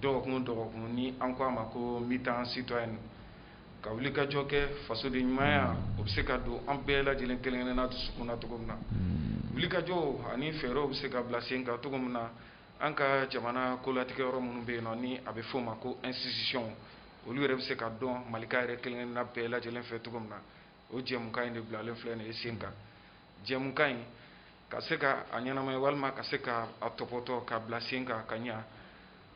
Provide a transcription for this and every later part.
dɔgɔkun dɔgɔkun ni an ko a ma ko mita citoyen ka wulikajɔ kɛ fasodenɲumanya o bɛ se ka don an bɛɛ lajɛlen kelen kelen na dusukun na cogo min na mm. wulikajɔw ani fɛɛrɛw bɛ se ka bila sen kan cogo min na an ka jamana kolatigɛ yɔrɔ minnu bɛ yen nɔ ni a bɛ f'o ma ko institution olu yɛrɛ bɛ se ka dɔn malika yɛrɛ kelen kelen na bɛɛ lajɛlen fɛ cogo min na o jɛmukan in de bilalen filɛ nin ye sen kan jɛmukan in ka se ka a ɲɛnamaya walima ka se ka a tɔpɔtɔ ka bila sen kan ka ɲa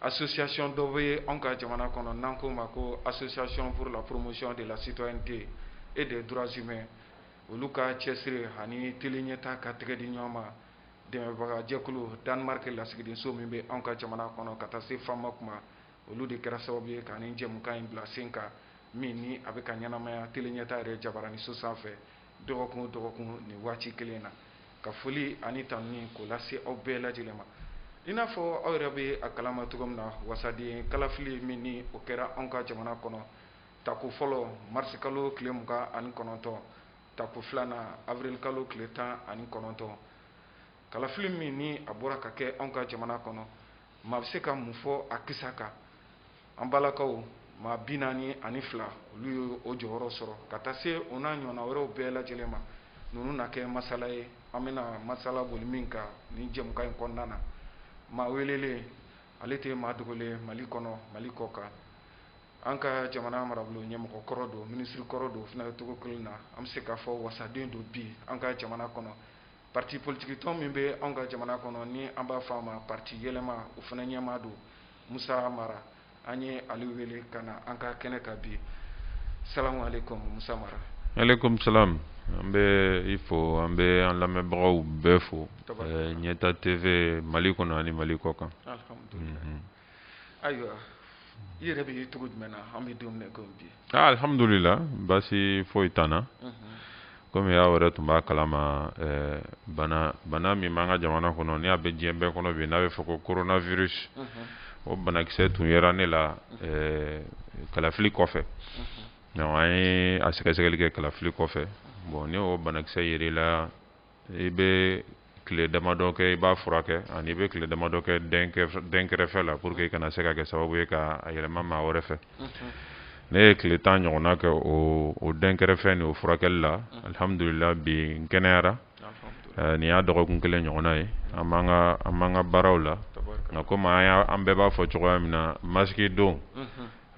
association dɔ bɛ yen anw ka jamana kɔnɔ n'an k'o ma ko association pour la promotion de la citoyenneté et des droits humains olu ka cɛsiri ani tele ɲɛta ka tɛgɛ di ɲɔgɔn ma dɛmɛbagajɛkulu Danemark lasigidenso min bɛ anw ka jamana kɔnɔ ka taa se FAMOC ma olu de kɛra sababu ye ka nin jɛmukan in bila sen kan min ni a bɛ ka ɲɛnamaya tele ɲɛta yɛrɛ jabaraninso sanfɛ dɔgɔkun o dɔgɔkun nin waati kelen na ka foli ani tanuni k'o lase aw bɛɛ lajɛlen ma i n'a fɔ aw yɛrɛ bɛ a kalama cogo min na wasaden kalafili min ni o kɛra anw ka jamana kɔnɔ tako fɔlɔ marisikalo tile mugan ani kɔnɔntɔn tako filanan awirilikalo tile tan ani kɔnɔntɔn Kalafili min ni a bɔra ka kɛ anw ka jamana kɔnɔ maa bɛ se ka mun fɔ a kisa kan an balimaw maa bi naani ani fila olu ye o jɔyɔrɔ sɔrɔ ka taa se o n'a ɲɔgɔnna wɛrɛw bɛɛ lajɛlen ma ninnu na kɛ masala ye an bɛna masala boli min kan ni jɛmukan in kɔnɔna na maa welelen ale tɛ maa dogolen mali kɔnɔ mali kɔ kan an ka jamana marabolo ɲɛmɔgɔ kɔrɔ don minisiri kɔrɔ don o cogo kelen na an bɛ se k'a fɔ wasaden don bi an ka jamana kɔnɔ Pati politigikitɔn min bɛ anw ka jamana kɔnɔ ni an b'a fɔ a ma pati yɛlɛma o fana ɲɛmaa don musa mara an ye ale wele ka na an ka kɛnɛ kan bi salamu alekum musa mara alekum salamu an bɛ i fo an bɛ an lamɛnbagaw bɛɛ fo ɲɛta TV mali kɔnɔ ani mali kɔ kan ayiwa i yɛrɛ bɛ cogo jumɛn na an bɛ don min na i komi bi ah, alihamudulila baasi foyi t'an na mhm. komi aw yɛrɛ tun b'a kalama eh, bana bana min b'an ka jamana kɔnɔ ni a bɛ diɲɛ bɛɛ kɔnɔ bi n'a bɛ fɔ ko coronavirus mhm. o banakisɛ tun yera ne la mhm. eh, kalafili kɔfɛ donc an ye a sɛgɛsɛgɛli kɛ kalafili kɔfɛ bon ni o banakisɛ yera i la i bɛ tile damadɔ kɛ i b'a furakɛ ani i bɛ tile damadɔ kɛ dɛnkɛrɛfɛ la pour que i kana se ka kɛ sababu ye ka a yɛlɛma maa wɛrɛ fɛ ne ye tile tan ɲɔgɔnna kɛ o dɛnkɛrɛfɛ ni o furakɛli la alihamdulila bi n kɛnɛyara nin y'a dɔgɔkun kelen ɲɔgɔnna ye an b'an ka baaraw la nka komi an bɛɛ b'a fɔ cogoya min na masiki don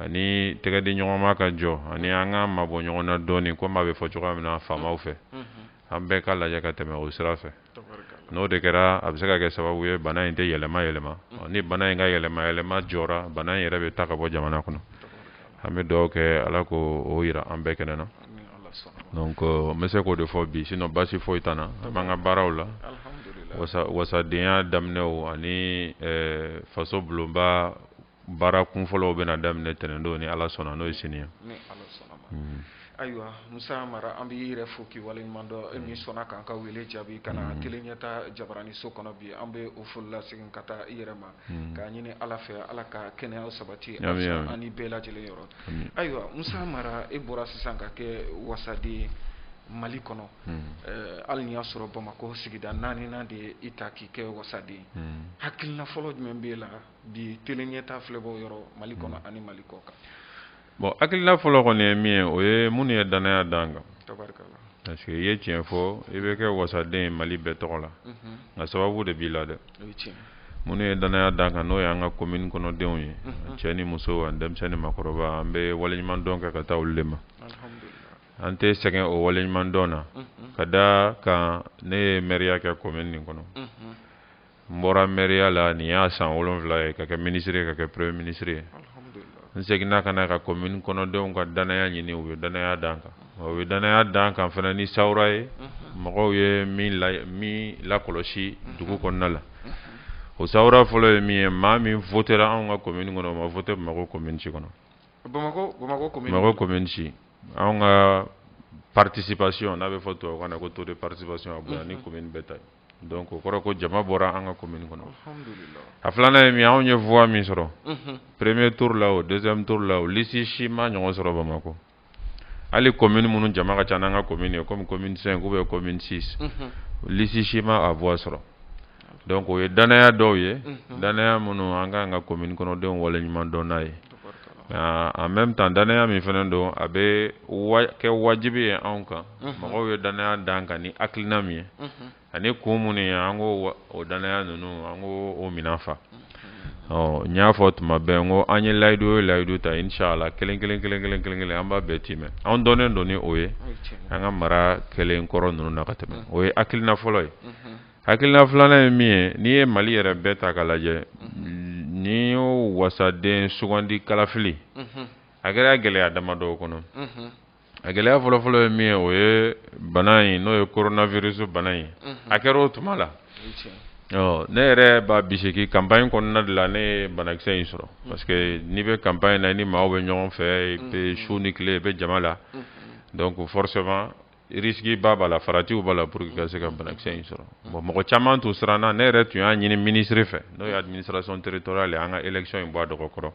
ani tɛgɛdi ɲɔgɔnma ka jɔ ani an ka mabɔ ɲɔgɔnna dɔɔnin komi a bɛ fɔ cogoya min na faamaw fɛ an bɛɛ ka lajɛ ka tɛmɛ o sira fɛ n'o de kɛra a bɛ se ka kɛ sababu ye bana in tɛ yɛlɛma yɛlɛma ni bana in ka yɛlɛma yɛlɛma jɔra bana in yɛrɛ bɛ taa ka bɔ jamana kɔnɔ an bɛ duwawu kɛ ala k'o jira an bɛɛ kɛnɛ na donc n bɛ se k'o de fɔ bi sinɔn basi foyi t'an na an b'an ka baaraw la wasadenya daminɛw ani faso bulonba baara kunfɔlɔw bɛna daminɛ tɛnɛndon ni ala sɔnna n'o ye sini ye hmm. ayiwa musa mara an b'i yɛrɛ fo k'i waleɲuman dɔn e min sɔnna k'an ka wele jaabi ka na hmm. tele ɲɛtaa jabaraniso kɔnɔ bi an bɛ o foli lasegin ka taa i yɛrɛ ma hmm. k'a ɲini ala fɛ ala ka kɛnɛya sabati an ni bɛɛ lajɛlen yɔrɔ ayiwa musa mara e bɔra sisan ka kɛ wasaden ye mali kɔnɔ eh, hali n'i y'a sɔrɔ bamakɔ sigida naaninan de ye i ta k'i kɛ wasaden hakilina fɔlɔ jumɛn b'e la bi tele ɲɛtaa filɛbaaw yɔrɔ mali kɔnɔ hmm. ani mali kɔkan bon hakilila fɔlɔ kɔni ye min ye o ye minnu ye dannaya d'an kan parce que i ye tiɲɛ fɔ i bɛ kɛ wasaden ye mali bɛɛ tɔgɔ la mhm. nka sababu de b'i la dɛ minnu ye dannaya d'an kan n'o y'an ka komini kɔnɔdenw ye mhm. cɛ ni muso ani denmisɛn ni makɔrɔba an bɛ waleɲumandɔn kɛ ka taa olu de ma an tɛ sɛgɛn o waleɲumandɔn na mhm. ka d'a kan ne ye mɛriya kɛ komini nin kɔnɔ n bɔra mɛriya la nin y'a san wolonwula ye ka kɛ minisiri ye ka kɛ premier minisiri ye n seginna ka n'an ka commune kɔnɔdenw ka danaya ɲini u ye danaya d'an kan u ye danaya d'an kan fana ni sawura ye mhm. mɔgɔw ye min la min lakɔlɔsi mhm. dugu kɔnɔna la mhm. o sawura fɔlɔ ye min ye maa min votera anw ka commune kɔnɔ o ma vote bamakɔ commune si kɔnɔ bamakɔ bamakɔ commune bamakɔ commune si anw ka participation n'a bɛ fɔ tubabukan na ko taux de participation a bonya ni commune bɛɛ ta ye Donc o kɔrɔ ko jama bɔra an ka komini kɔnɔ a filanan ye min anw ye voix min sɔrɔ premier tour la o deuxième tour la o lisi si m'a ɲɔgɔn sɔrɔ bamakɔ hali komini minnu jama ka ca n'an ka komini ye comme commune cinq ou bien commune six lisi si ma a voix sɔrɔ donc o ye danaya dɔw ye danaya minnu an ka kan k'an ka komini kɔnɔdenw waleɲuman dɔn n'a ye en même temps danaya min fana don a bɛ kɛ wajibi ye anw kan mɔgɔw ye danaya d'an kan ni hakilina min ye ani kun minnu ye an k'o danaya ninnu an k'o minɛn fa ɔ n y'a fɔ tuma bɛɛ ko an ye layidu o layidu ta inshallah kelen kelen kelen kelen kelen kelen an b'a bɛɛ tiimɛ anw dɔnnen don ni o ye an ka mara kɛlen kɔrɔ ninnu na ka tɛmɛ o ye hakilina fɔlɔ ye Hakilila filanan ye min ye n'i ye mali yɛrɛ bɛɛ ta ka lajɛ ni y'o wasaden sugandi kalafili a kɛra gɛlɛya damadɔw kɔnɔ a gɛlɛya fɔlɔfɔlɔ ye min ye o ye bana in n'o ye coronavirus bana in a kɛra o tuma la ne yɛrɛ b'a bisigi campagne kɔnɔna de la ne ye banakisɛ in sɔrɔ parce que n'i bɛ campagne na i ni maaw bɛ ɲɔgɔn fɛ i bɛ su ni tile i bɛ jama la donc forcément risque ba b'a la faratiw b'a la pour que ka se ka banakisɛ in sɔrɔ bon mɔgɔ caman tun siranna ne yɛrɛ tun y'a ɲini ministre fɛ n'o ye administration territoriale ye an ka élection in bɔ a dɔgɔ kɔrɔ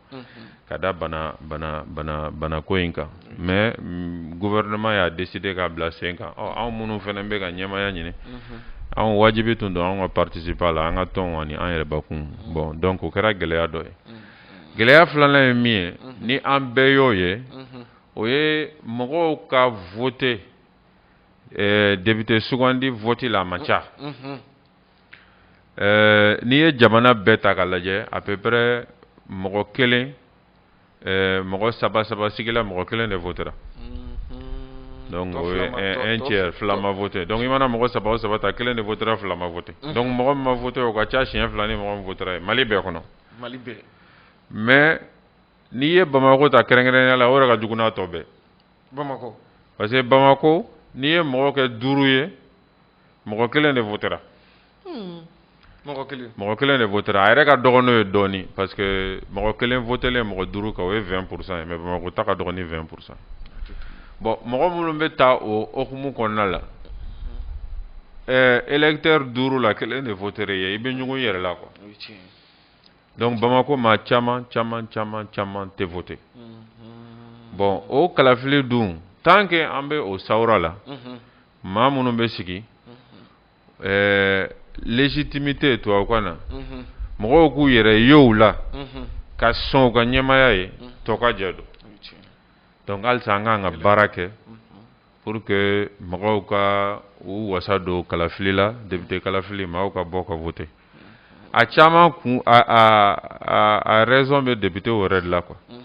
ka da bana bana bana banako in kan mais mm, gouvernement y'a décider k'a bila sen kan ɔ anw minnu fana bɛ ka ɲɛmaya ɲini anw wajibi tun don anw ka participer a la an ka tɔnw ani an yɛrɛ bakun bon donc o kɛra gɛlɛya dɔ ye gɛlɛya filanan ye min ye ni an bɛɛ y'o ye o ye mɔgɔw ka vote ɛɛ député sugandi vote la a man ca ɛɛ n'i ye jamana bɛɛ ta k'a lajɛ à peu près mɔgɔ kelen ɛɛ mɔgɔ saba saba sigila mɔgɔ kelen de votera donc o ye un tiers fila ma vote donc i mana mɔgɔ saba o saba ta kelen de votera fila ma vote donc mɔgɔ min ma vote o ka ca siɲɛ fila ni mɔgɔ min votera ye Mali bɛɛ kɔnɔ Mali bɛɛ mais N'i ye bamakɔ ta kɛrɛnkɛrɛnya la o de ka jugu n'a tɔ bɛɛ bamakɔ parce que bamakɔ n'i ye mɔgɔ kɛ duuru ye mɔgɔ kelen de votera hmm. mɔgɔ kelen de votera a yɛrɛ ka dɔgɔ n'o ye dɔɔnin parce que mɔgɔ kelen votelen mɔgɔ duuru kan o ye vingt pour cent ye mais bamakɔ ta ka dɔgɔ ni vingt pour cent bon mɔgɔ minnu bɛ taa o commune kɔnɔna la ɛɛ électeur duuru la kelen de votera yen i bɛ ɲɔgɔn yɛrɛ la quoi Donc Bamakɔ maa caman caman caman caman tɛ voter unhun, bon o kalafili dun tant que an bɛ o sawura la, unhun, maa minnu bɛ sigi, unhun, ɛɛ légitimité tubabukan na, unhun, mɔgɔw k'u yɛrɛ ye u la, unhun, ka sɔn u ka ɲɛmaaya ye, unhun, tɔ ka jɛ don, o ye tiɲɛ ye, donc halisa an ka kan ka baara kɛ, unhun. pour que mɔgɔw ka u wasa don kalafili la député kalafili mɔgɔw ka bɔ ka voter a caman kun a a a raison bɛ député yɛrɛ de la quoi mhm.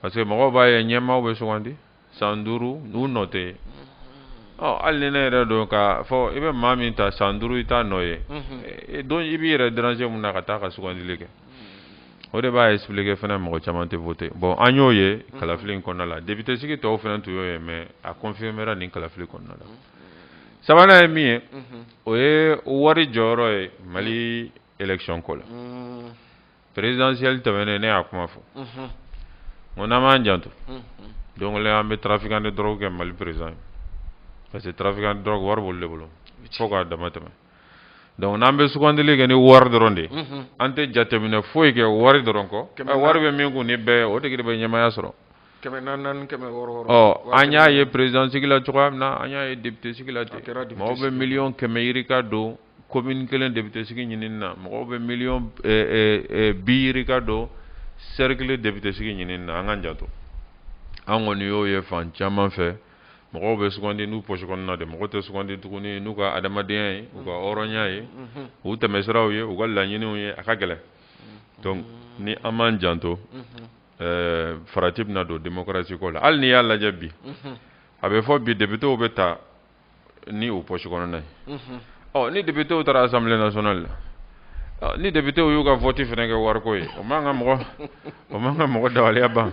parce que mɔgɔw b'a ye ɲɛmaaw bɛ sugandi san duuru u nɔ tɛ ye ɔ hali ni ne yɛrɛ don k'a fɔ i bɛ maa min ta san duuru i t'a nɔ ye mhm. donc i b'i yɛrɛ déranger mun na ka taa ka sugandili kɛ o de b'a expliquer fana mɔgɔ caman tɛ voter bon an y'o ye kalafili in kɔnɔna la député sigi tɔw fana tun y'o ye mais a confirmera nin kalafili kɔnɔna la sabanan ye min ye o ye wari jɔyɔrɔ ye mali élection ko la présidentielle tɛmɛnen ne y'a kuma fɔ ko n'an m'an janto don dɔ an bɛ trafiquant de drogue kɛ mali président ye parce que trafiquant de drogue wari b'olu de bolo fo k'a dama tɛmɛ donc n'an bɛ sugandili kɛ ni wari dɔrɔn de an tɛ jateminɛ foyi kɛ wari dɔrɔn kɔ wari bɛ min kun ni bɛɛ o tigi de bɛ ɲɛmaya sɔrɔ an y'a ye président sigi la cogoya min na an y'a ye député sigi la mɔgɔ bɛ million kɛmɛ yirika don commune kelen député sigi ɲini na mɔgɔ bɛ million bi yirika don cercle kelen député sigi ɲini na an k'an janto an kɔni y'o ye fan caman fɛ mɔgɔw bɛ sugandi n'u pɔsi kɔnɔna de mɔgɔ tɛ sugandi tuguni n'u ka adamadenya ye u ka mm-hmm. hɔrɔnya ye mm-hmm. u tɛmɛsiraw ye u ka laɲiniw ye a ka gɛlɛn mm-hmm. donc ni an m'an janto eh, farati bɛna don démocratie ko la hali n'i y'a lajɛ bi a bɛ fɔ bi députés bɛ ta ni u pɔsi kɔnɔna ye mhm. ɔ ni députéw taara assemblée nationale la ni députéw y'u ka vɔti fana kɛ wariko ye o man ka mɔgɔ o man ka mɔgɔ dabaliya ban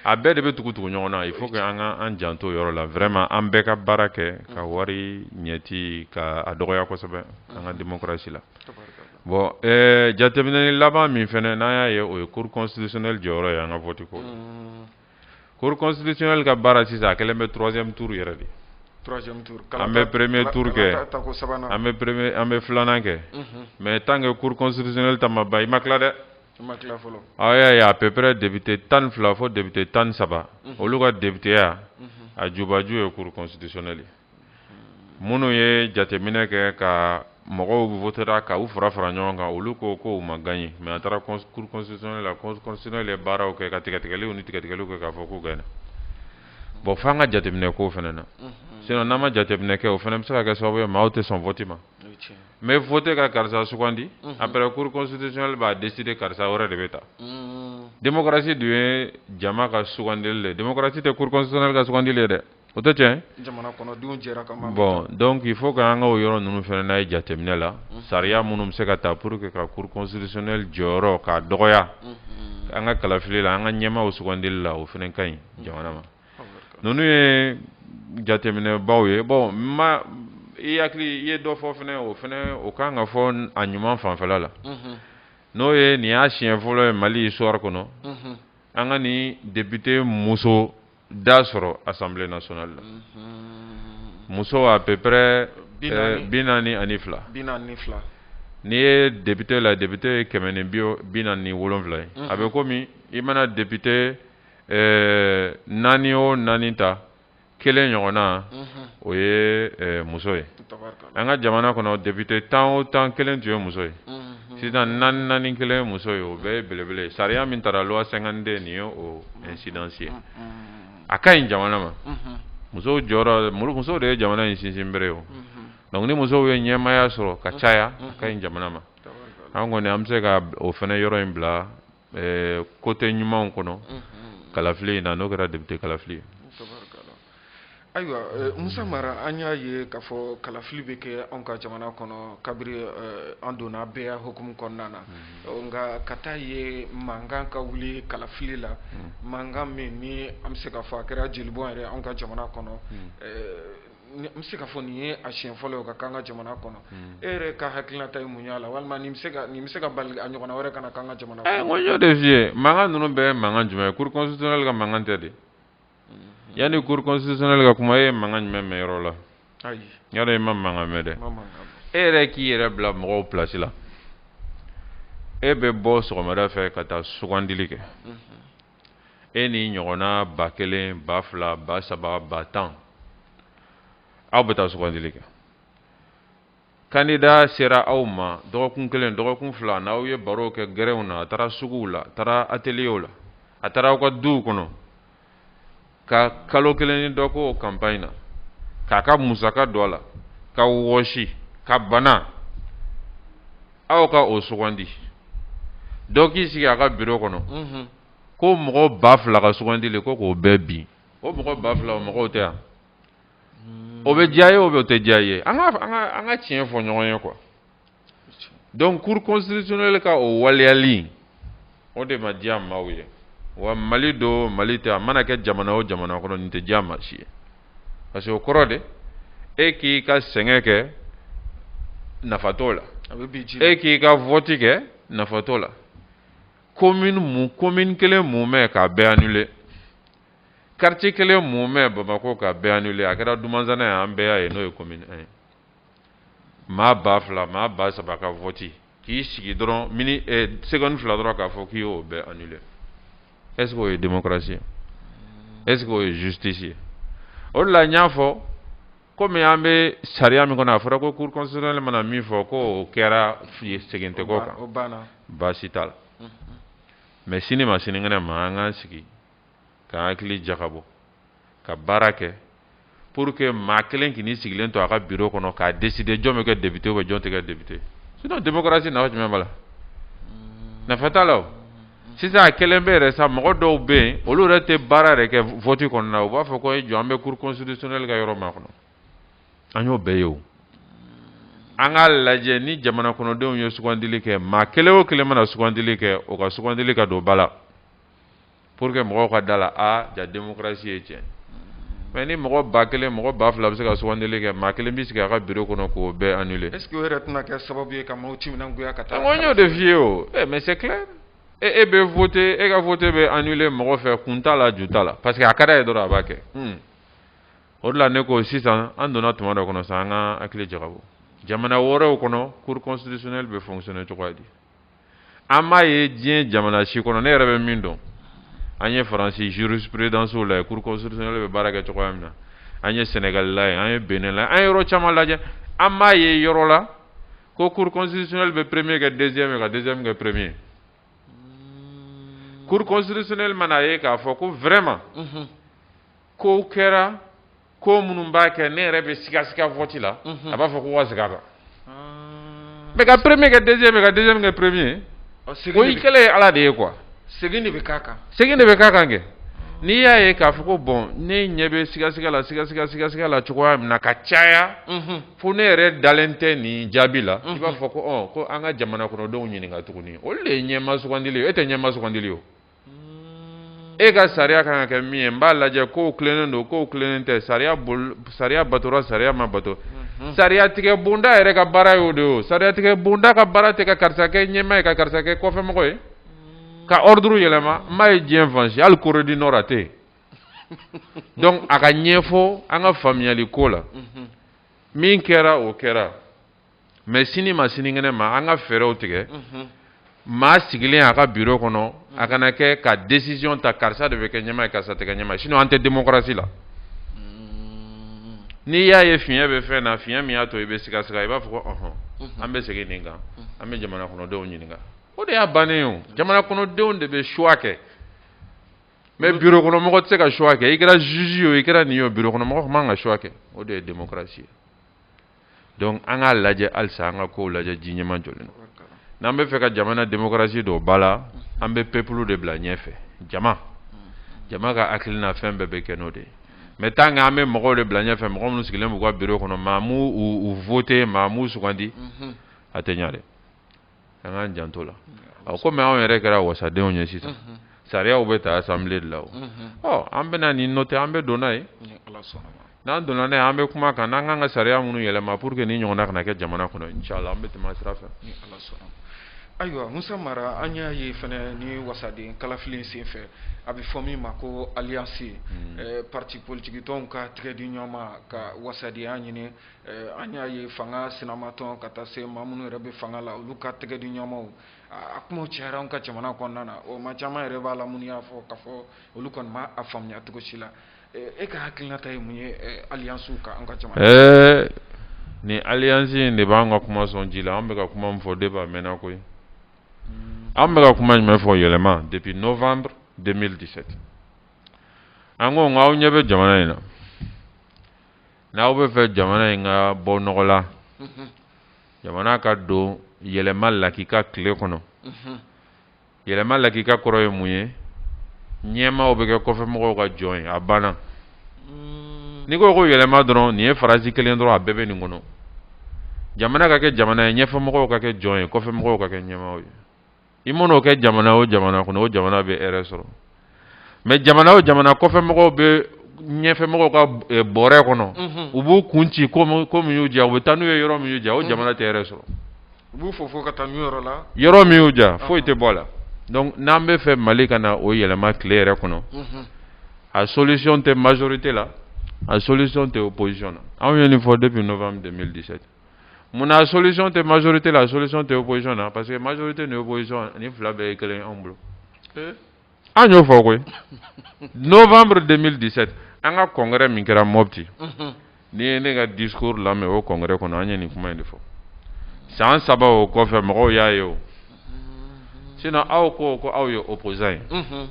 a bɛɛ de bɛ tugu tugu ɲɔgɔn na il faut que an ka an janto yɔrɔ la vraiment an bɛɛ ka baara kɛ ka wari ɲɛci ka a dɔgɔya kosɛbɛ an ka démocratie la bon eh, jateminɛni laban min fana n'an y'a ye o ye cour constitutionnelle jɔyɔrɔ ye an ka vote ko la mm. cour constitutionnelle ka baara sisan a kɛlen bɛ troisième tour yɛrɛ de troisième tour an bɛ premier tour kɛ an bɛ premier an bɛ filanan kɛ mhm. mais tant que cour constitutionnelle ta ma ban i ma tila dɛ i ma tila fɔlɔ aw y'a ye à peu près député tan ni fila fo député tan ni saba mhm. olu ka députéya mhm. a jubaju ye cour constitutionnelle ye minnu ye jateminɛ kɛ ka mɔgɔw votera ka u fara fara ɲɔgɔn kan olu ko ko u ma gan ye mɛ a taara kurusɛ la kɔsɔn ye baaraw kɛ ka tigɛtigɛliw ni tigɛtigɛliw kɛ k'a fɔ ko gɛn bɔn fo an ka jateminɛ ko fana na sin n'an ma jateminɛ kɛ o fana bɛ se ka kɛ sababu ye maaw tɛ sɔn fɔti ma mɛ fɔte ka karisa sugandi a bɛ kurusɔnli b'a dɛsɛse de karisa wɛrɛ de bɛ ta densi dun ye jama ka sugandili dɛsi tɛ kurusɛ ka sugandili dɛ o tɛ cɛ bon donc il faut que an ka yɔrɔ ninnu fana n'a ye jateminɛ la sariya minnu bɛ se ka ta pour que ka cour constitutionnelle jɔyɔrɔ k'a dɔgɔya an ka kalafili la an ka ɲɛmaaw sugandili la o fana ka ɲi jamana ma ninnu ye jateminɛbaw ye bon ma i hakili i ye dɔ fɔ fana o fana o ka kan ka fɔ a ɲuman fanfɛla la n'o ye nin y'a siɲɛ fɔlɔ ye mali histoire kɔnɔ an ka nin député muso da sɔrɔ assemblée nationale la muso à peu près bi naani ani fila n'i ye député la député ye kɛmɛ ni bi bi naani ni wolonwula ye a bɛ komi i mana député naani o naani ta kelen ɲɔgɔn na o ye muso ye an ka jamana kɔnɔ député tan o tan kelen tun ye muso ye sisan naani naani kelen ye muso ye o bɛɛ ye belebele sariya min taara loi cinquante-deux nin ye o incidence ye a ka ɲi jamana ma musow jɔyɔrɔ musow de ye jamana in sinsinbere o donc ni musow ye ɲɛmaaya sɔrɔ ka caya a ka ɲi jamana ma an kɔni an bɛ se ka o fana yɔrɔ in bila ɛɛ ko tɛ ɲumanw kɔnɔ kalafili in na n'o kɛra député kalafili ye ayiwa musa mara an y'a ye k'a fɔ kalafili bɛ kɛ anw ka jamana kɔnɔ kabiri an donna bɛɛya hukumu kɔnɔna na nka ka taa ye mankan ka wuli kalafili la mankan min ni an bɛ se k'a fɔ a kɛra jelibɔn yɛrɛ an ka jamana kɔnɔ n bɛ se k'a fɔ nin ye a siɲɛ fɔlɔ ye o ka k'an ka jamana kɔnɔ e yɛrɛ ka hakilinata ye mun y'a la walima nin bɛ se ka nin bɛ se ka bali a ɲɔgɔnna wɛrɛ kana k'an ka jamana kɔnɔ. n ko n y'o de f'i ye mankan ninnu bɛɛ ye mankan jumɛn ye cour constitutionnelle ka mankan tɛ dɛ yanni cour constitutionnelle ka kuma e ye mankan jumɛn mɛn yɔrɔ la ayi n y'a dɔn i ma mankan mɛn dɛ e yɛrɛ k'i yɛrɛ bila mɔgɔw place la e bɛ bɔ sɔgɔmada fɛ ka taa sugandili kɛ e ni ɲɔgɔnna ba kelen ba fila ba saba ba tan aw bɛ taa sugandili kɛ kandida sera aw ma dɔgɔkun kelen dɔgɔkun fila n'aw ye baro kɛ gɛrɛnw na a taara suguw la a taara ateliyew la a taara aw ka duw kɔnɔ ka kalo kelen ni dɔ kɛ o campagne na k'a ka musaka don a la ka wɔsi ka bana aw ka o sugandi dɔ k'i sigi a ka biro kɔnɔ mhm. ko mɔgɔ ba fila ka sugandili ko k'o bɛɛ bin o mɔgɔ ba fila o mɔgɔw tɛ yan o bɛ diya i ye o bɛ o tɛ diya i ye an ka an ka an ka tiɲɛ fɔ ɲɔgɔn ye quoi donc cour constitutionnelle ka o waleyali o de ma diya maaw ye wa mali don mali tɛ a mana kɛ jamana o jamana kɔnɔ nin tɛ diya maa si ye parce que o kɔrɔ de e k'i ka sɛgɛn kɛ nafa t'o la e k'i ka vɔti kɛ nafa t'o la commune mun commune kelen mumɛ k'a bɛɛ annuler quartier kelen mumɛ bamakɔ k'a bɛɛ annuler a kɛra dumanzana ye an bɛɛ y'a ye n'o ye commune 1 ye Maa ba fila maa ba saba ka vɔti k'i sigi dɔrɔn seconde fila dɔrɔn k'a fɔ k'i y'o bɛɛ annuler est-ce que o ye démocratie ye est-ce que o ye justice ye o de la n y'a fɔ kɔmi an bɛ sariya min kɔnɔ a fɔra ko cour constitutionnelle mana min fɔ k'o kɛra fi ye segin tɛ k'o kan baasi t'a la mais sini ma sinikɛnɛ ma an ka sigi k'an hakili jakabɔ ka baara kɛ pour que maa kelen k'i sigilen to a ka biro kɔnɔ k'a décider jɔn bɛ kɛ député ou jɔn tɛ kɛ député sinon démocratie nafa jumɛn b'a la hmm. nafa t'a la o sisan a kɛlen bɛ yɛrɛ sa mɔgɔ dɔw bɛ yen olu yɛrɛ tɛ baara yɛrɛ kɛ vote kɔnɔna u b'a fɔ k'i jɔ an bɛ cour constitutionnelle ka yɔrɔ makɔnɔ an y'o bɛɛ ye o an k'a lajɛ ni jamana kɔnɔdenw ye sugandili kɛ maa kelen o kelen mana sugandili kɛ o ka sugandili ka don ba la pour que mɔgɔw ka da a la aa ja démocratie ye tiɲɛ mais ni mɔgɔ ba kelen mɔgɔ ba fila bɛ se ka sugandili kɛ maa kelen bɛ sigi a ka bureau kɔnɔ k'o bɛɛ annuler est ce que o yɛrɛ tɛna kɛ sababu ye ka maaw timinangoya ka taa n y'o de f'i ye o eh, mais c'est clair e e bɛ voter e ka vote bɛ annuler mɔgɔ fɛ kun t'a la ju t'a la parce que a ka d'a ye dɔrɔn a b'a kɛ hmm. o de la ne ko sisan an donna tuma dɔ kɔnɔ sisan an ka hakili jagabɔ jamana wɛrɛw kɔnɔ cour constitutionnelle bɛ fonctionner cogoya di an b'a ye diɲɛ jamana si kɔnɔ ne yɛrɛ bɛ min dɔn an ye faransi zurusperedanso la ye kurukɔsirisinali bɛ baara kɛ cogoya min na an ye sɛnɛgalila ye an ye bɛnla an yɔrɔ caman lajɛ an b'a ye yɔrɔ la ko kurukɔsirisinali bɛ peremeye kɛ dɛsɛ min ka dɛsɛ min kɛ peremeye kurukɔsirisinali mana a ye k'a fɔ ko vma ko kɛra ko minnu b'a kɛ ne yɛrɛ bɛ sigasiga vote la a b'a fɔ ko u ka segin a kan mais ka premier kɛ deuxième ka deuxième kɛ premier o i kɛlen ye ala de ye quoi segin de bɛ k'a kan segin de bɛ k'a kan kɛ n'i y'a ye k'a fɔ ko bon ne ɲɛ bɛ sigasiga la sigasigasiga la cogoya min na ka caya fo ne yɛrɛ dalen tɛ nin jaabi la i b'a fɔ ko ko an ka jamana kɔnɔdenw ɲininkaka tuguni olu de ye ɲɛmaa sugandi e tɛ ɲɛmaa sugandi o e ka sariya kan ka kɛ min ye n b'a lajɛ ko tilennen don ko tilennen tɛ sariya sariya batora sariya ma bato sariya tigɛ bonda yɛrɛ ka baara y'o de o sariya tigɛ bonda ka baara tɛ ka karisa kɛ ɲɛmaa ye ka karisa kɛ kɔfɛmɔgɔ ye ka ordre yɛlɛma n m'a ye diɲɛ fan si hali corée du nord a tɛ yen donc a ka ɲɛfɔ an ka faamuyali ko la min kɛra o kɛra mais sini ma sinikɛnɛ ma an ka fɛɛrɛw tigɛ maa sigilen a ka bureau kɔnɔ a kana se ka décision ta karisa de bɛ kɛ ɲɛmaa ye karisa tɛ ɲɛmaa sinon an tɛ démocratie la n'i y'a ye fiɲɛ bɛ fɛn na fiɲɛ min y'a to i bɛ sigasiga i b'a fɔ bon an bɛ segin nin kan an bɛ jamana kɔnɔdenw ɲininka o de y'a bannen o jamana kɔnɔdenw de bɛ choix kɛ mais bureau kɔnɔmɔgɔ tɛ se ka choix kɛ i kɛra juge ye o i kɛra nin ye o bureau kɔnɔmɔgɔ man kan ka choix kɛ o de ye démocratie ye donc an k'a lajɛ halisa an ka ko lajɛ ji ɲɛmajɔlen na n'an b'a fɛ ka jamana démocratie don ba la an bɛ peuple de bila ɲɛfɛ jama jama ka hakilina fɛn bɛɛ bɛ kɛ n'o de mais tan an bɛ mɔgɔw de bila ɲɛfɛ mɔgɔ minnu sigilen b'u ka bureau kɔnɔ maa ma u voter maa m'u sugandi a tɛ ɲa dɛ an k'an janto a la ɔ komi anw yɛrɛ kɛra wasadenw ye sisan sariyaw bɛ ta assemblée de la o ɔ an bɛna nin noter an bɛ don n'a ye n'an donna n'a ye an bɛ kuma a kan n'an kan ka sariya minnu yɛlɛma pour que nin ɲɔgɔnna kana kɛ jamana kɔnɔ inshallah an bɛ tɛmɛ a sira fɛ ayiwa musa mara an y'a ye fana nin wasaden kalafili in senfɛ a bɛ fɔ min ma ko alliance parti politique tɔnw ka tɛgɛ di ɲɔgɔn ma ka wasadenya ɲini an y'a ye fanga sinamatɔn ka taa se maa minnu yɛrɛ bɛ fanga la olu ka tɛgɛ di ɲɔgɔn ma a kuma cayara an ka jamana kɔnɔna na o maa caman yɛrɛ b'a la minnu y'a fɔ k'a fɔ olu kɔni ma a faamuya cogo si la e ka hakilinata ye mun ye alliancew kan an ka jamana ɛɛ ni alliance in de b'an ka kuma sɔn ji la an bɛ ka kuma min fɔ de b'a mɛnna koyi an bɛ ka kuma jumɛn fɔ yɛlɛma depuis novembre 2017 an ko k'aw ɲɛ bɛ jamana in na N'aw b'a fɛ jamana in ka bɔ nɔgɔ la jamana ka don yɛlɛma lakika tile kɔnɔ yɛlɛma lakika kɔrɔ ye mun ye ɲɛmaaw bɛ kɛ kɔfɛmɔgɔw ka jɔn ye a banna mm. n'i ko ko yɛlɛma dɔrɔn nin ye farasi kelen dɔrɔn a bɛɛ bɛ nin kɔnɔ jamana ka kɛ jamana ye ɲɛfɛmɔgɔw ka kɛ jɔn ye kɔfɛmɔgɔw ka kɛ ɲɛmaaw ye i man'o kɛ jamana o jamana kɔnɔ o jamana bɛ hɛrɛ sɔrɔ mais jamana o jamana kɔfɛ mɔgɔw bɛ ɲɛfɛ mɔgɔw ka eh, bɔrɛ kɔnɔ mhm. u b'u kun ci ko min y'u diya u bɛ taa n'u ye yɔrɔ min y'u diya o mhm. jamana tɛ hɛrɛ sɔrɔ u b'u fofo ka taa n'u ye yɔrɔ la yɔrɔ min y'u diya foyi tɛ bɔ a la donc n'an b'a fɛ mali ka na o yɛlɛma tile yɛrɛ kɔnɔ mhm. a solution tɛ majorité la a solution tɛ opposition na anw ye nin fɔ depuis novembre 2017 mun na a solution tɛ majorité la solution tɛ opposition na parce que majorité ni opposition nin fila bɛɛ ye kelen anw bolo eh? an y'o fɔ koyi novembre 2017 an ka congrès min kɛra mɔpti mhm. n'i ye ne ka discours lamɛn o congrès kɔnɔ an ye nin kuma in de fɔ san saba o kɔfɛ mɔgɔw y'a ye o mhm. sinon aw ko ko aw ye opposant ye mhm.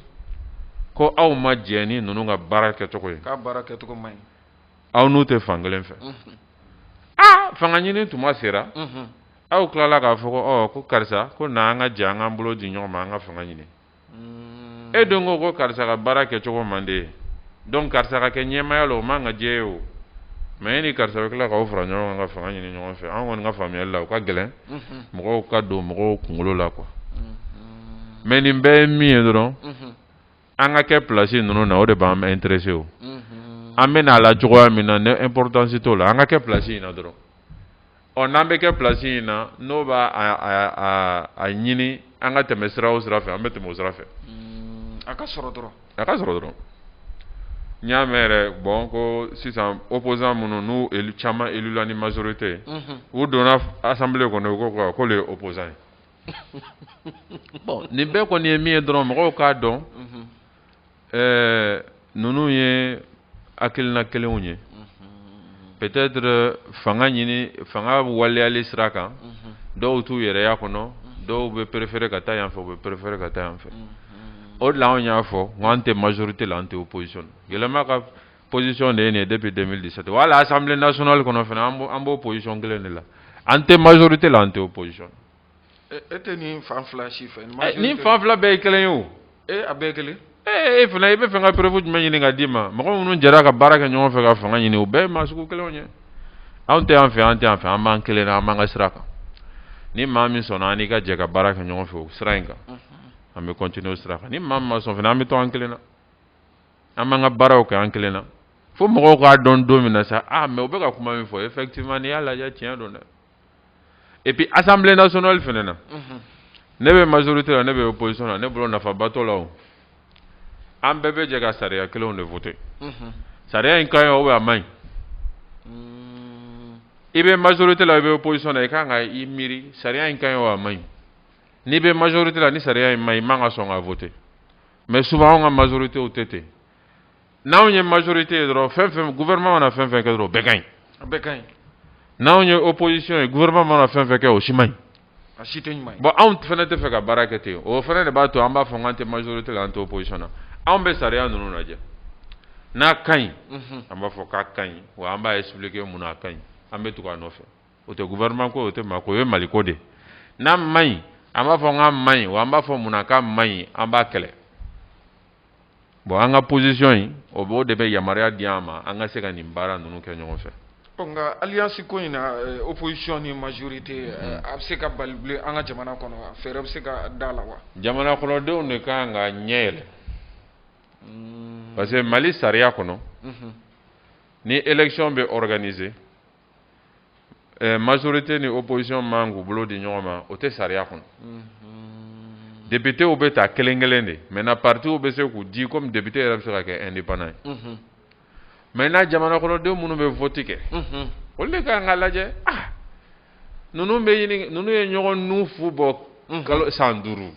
ko aw ma jɛn ni ninnu ka baara kɛcogo ye k'a baara kɛcogo man ɲi aw n'u tɛ fankelen fɛ aa fanga ɲini tuma sera aw tilala k'a fɔ ɔ ko karisa ko na an ka jɛ an k'an bolo di ɲɔgɔn ma an ka fanga ɲini e dun ko ko karisa ka baara kɛcogo man di e ye donc karisa ka kɛ ɲɛmaaya la o man ka diya e ye o mais e ni karisa bɛ tila k'aw fara ɲɔgɔn kan ka fanga ɲini ɲɔgɔn fɛ an kɔni ka faamuyali la o ka gɛlɛn mɔgɔ k'o don mɔgɔw kunkolo la quoi mais nin bɛɛ ye min ye dɔrɔn an ka kɛ plasi ninnu na o de b'an intéresser o an bɛ na a la cogoya min na importance t'o la an ka kɛ plasi in na dɔrɔn ɔ n'an bɛ kɛ plasi in na n'o b'a ɲini an ka tɛmɛ sira o sira fɛ an bɛ tɛmɛ o sira fɛ a ka sɔrɔ dɔrɔn a ka sɔrɔ dɔrɔn n y'a mɛn yɛrɛ bon ko sisan opposant minnu n'u caman élu la ni majorité u donna assemblée kɔnɔ u ko ko olu ye opposant ye bon nin bɛɛ kɔni ye min ye dɔrɔn mɔgɔw k'a dɔn ninnu ye hakilina kelenw ye peut-être fanga ɲini fanga waleyali sira kan dɔw t'u yɛrɛya kɔnɔ dɔw bɛ préférer ka taa yan fɛ u bɛ préférer ka taa yan fɛ o de la anw y'a fɔ n ko an tɛ majorité la an tɛ opposition la yɛlɛma ka position de ye nin ye depuis 2017 wa hali assemblée nationale kɔnɔ fana an b'o an b'o position kelen de la an tɛ majorité la an tɛ opposition. e e tɛ nin fan fila si fɛ. Eh, nin fan fila bɛɛ ye kelen ye o. ee eh, a bɛɛ ye kelen. ee eh, e fana i bɛ fɛ ka preuve jumɛn ɲini ka d'i ma mɔgɔ minnu jɛra ka baara kɛ ɲɔgɔn fɛ ka fanga ɲini o bɛɛ ye maa sugu kelenw ye anw tɛ yan fɛ an tɛ yan fɛ an b'an kelen na an b'an ka sira kan ni maa min sɔnna an n'i ka jɛ ka baara kɛ ɲɔgɔn fɛ o sira in kan an bɛ continuer o sira kan ni maa min ma sɔn fana an bɛ to an kelen na. an b'an ka baaraw kɛ an kelen na fo mɔgɔw k'a dɔn don min na sa ah mais u bɛ ka kuma min fɔ effectivement n'i y'a lajɛ tiɲɛ don dɛ et puis assemblée nationale fana na mhm. ne bɛ majorité la ne bɛ opposition la ne bolo nafaba t'o la o an bɛɛ bɛ jɛ ka sariya kelenw de voter mhm. sariya in ka ɲi ou bien a man ɲi mm. i bɛ majorité la i bɛ opposition na i kan ka i miiri sariya in ka ɲi ou a man ɲi n'i bɛ majorité la ni sariya in man ɲi i man ka sɔn k'a voter mais souvent anw ka majorité o tɛ ten n'anw ye majorité ye dɔrɔn fɛn fɛn gouvernement mana fɛn fɛn kɛ dɔrɔn bɛɛ ka ɲi bɛɛ ka ɲi n'anw ye opposition ye gouvernement mana fɛn fɛn kɛ o si man ɲi a si tɛ ɲuman bon anw fana t'a fɛ ka baara kɛ ten o fana de b'a to an b'a fɔ k'an tɛ majorité la an tɛ opposition na anw bɛ sariya ninnu lajɛ n'a ka ɲi an b'a fɔ k'a ka ɲi wa an b'a expliquer mun na a ka ɲi an bɛ tugu a nɔfɛ o tɛ gouvernement ko ye, o tɛ maa ko ye, o ye Mali ko de ye. N'a man ɲi, an b'a fɔ k'a man ɲi, wa an b'a fɔ mun na k'a man ɲi, an b'a kɛlɛ. Bon an ka position in, o b'o de bɛ yamaruya di an ma, an ka se ka nin baara ninnu kɛ ɲɔgɔn fɛ. Ɔ nka alliance ko in na, euh, opposition ni majorité, euh, mm-hmm. a bɛ se ka bali bilen an ka jamana kɔnɔ wa? Fɛɛrɛ bɛ se ka d'a la wa? Jamana kɔnɔdenw de ka kan ka ɲɛ yɛlɛ. Mm. Parce que Mali sariya kɔnɔ, mm-hmm. ni élection bɛ organiser, eh, majorité ni opposition man k'u bolo di ɲɔgɔn ma o tɛ sariya kɔnɔ mhm. députéw bɛ ta kelen kelen de maintenant partiw bɛ se k'u di comme député yɛrɛ bɛ se ka kɛ indépendant ye mhm. maintenant jamana kɔnɔdenw minnu bɛ vote kɛ mhm. olu de ka kan k'a lajɛ ah ninnu bɛ ɲini ninnu ye ɲɔgɔn nu fu bɔ kalo san duuru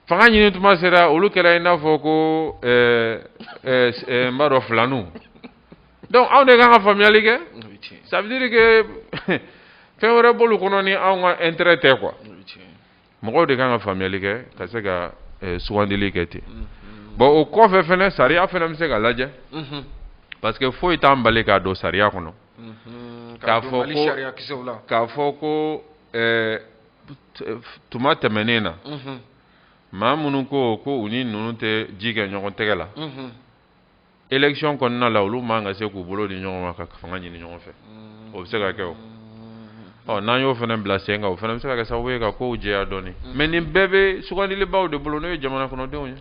fanga ɲini tuma sera olu kɛra i n'a fɔ ko ɛɛ ɛɛ ɛɛ n b'a dɔn filaniw donc anw de kan ka faamuyali kɛ ça veut dire que fɛn wɛrɛ b'olu kɔnɔ ni anw ka intérêt tɛ quoi mɔgɔw de kan ka faamuyali kɛ ka se ka ɛɛ sugandili kɛ ten mm-hmm. bon o kɔfɛ fɛnɛ sariya fɛnɛ bɛ se ka lajɛ mm-hmm. parce que foyi t'an bali k'a don sariya kɔnɔ mm-hmm. k'a fɔ ko k'a fɔ ko ɛɛ tuma tɛmɛnen na maa minnu ko ko u ni ninnu tɛ ji kɛ ɲɔgɔn tɛgɛ la élection kɔnɔna la olu man kan ka se k'u bolo di ɲɔgɔn ma ka fanga ɲini ɲɔgɔn fɛ o bɛ se ka kɛ o ɔ n'an y'o fana bila sen kan o fana bɛ se ka kɛ sababu ye ka kow jɛya dɔɔnin mais nin bɛɛ bɛ sugandilibaw de bolo n'o ye jamana kɔnɔdenw ye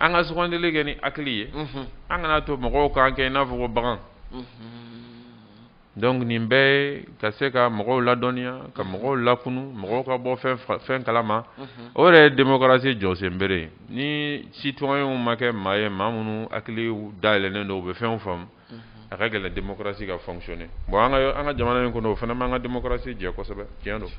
an ka sugandili kɛ ni hakili ye an kana to mɔgɔw k'an kɛ i n'a fɔ ko bagan donc nin bɛɛ ye ka se ka mɔgɔw ladɔnniya ka mɔgɔw lakunun mɔgɔw ka bɔ fɛnw kala ma o yɛrɛ ye démocratie jɔsen bere ye ni citoyens ma kɛ maa ye maa minnu hakili dayɛlɛnnen don u bɛ fɛnw faamu a ka gɛlɛn démocratie ka fonctionner bon an ka an ka jamana in kɔnɔ o fana m'an ka démocratie jɛ kosɛbɛ tiɲɛ don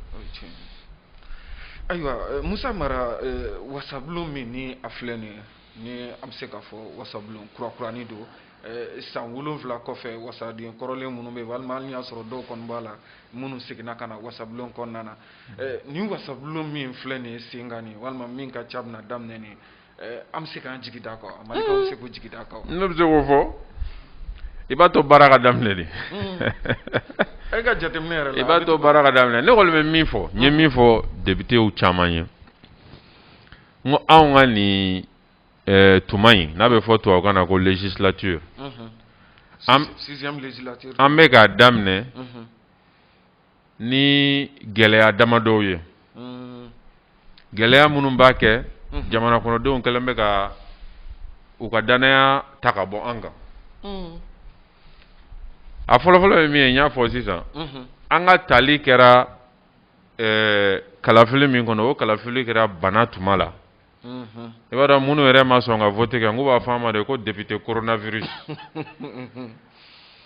ayiwa euh, musa mara euh, wasabulon min ni a filɛ nin ye ni an bɛ se k'a fɔ wasabulon kurakurani don Eh, san wolonwula kɔfɛ wasaden kɔrɔlen minnu bɛ walima hali y'a sɔrɔ dɔw kɔni b'a la minnu seginna ka na wasabulon kɔnɔna na eh, nin wasabulon min filɛ nin ye sen kan nin walima min ka ca bɛna daminɛ nin eh, an bɛ se k'an jigi d'a kan mali bɛ se k'a jigi d'a kan ne bɛ se k'o fɔ i b'a to baara ka daminɛ dɛ hmm. e ka jateminɛ yɛrɛ la i b'a to baara ka daminɛ ne kɔni bɛ min fɔ n ye min fɔ députéw caman ye n ko anw ka nin tuma in n'a bɛ fɔ tubabukan na ko législature an bɛ k'a daminɛ ni gɛlɛya dama dɔw ye gɛlɛya minnu b'a kɛ jamana kɔnɔdenw kɛlen bɛ ka u ka dannaya ta ka bɔ an kan a fɔlɔfɔlɔ ye min ye n y'a fɔ sisan an ka taali kɛra kalafili min kɔnɔ o kalafili kɛra bana tuma la i b'a dɔn minnu yɛrɛ ma sɔn ka vote kɛ nk'u b'a fɔ an ma de ko député coronavirus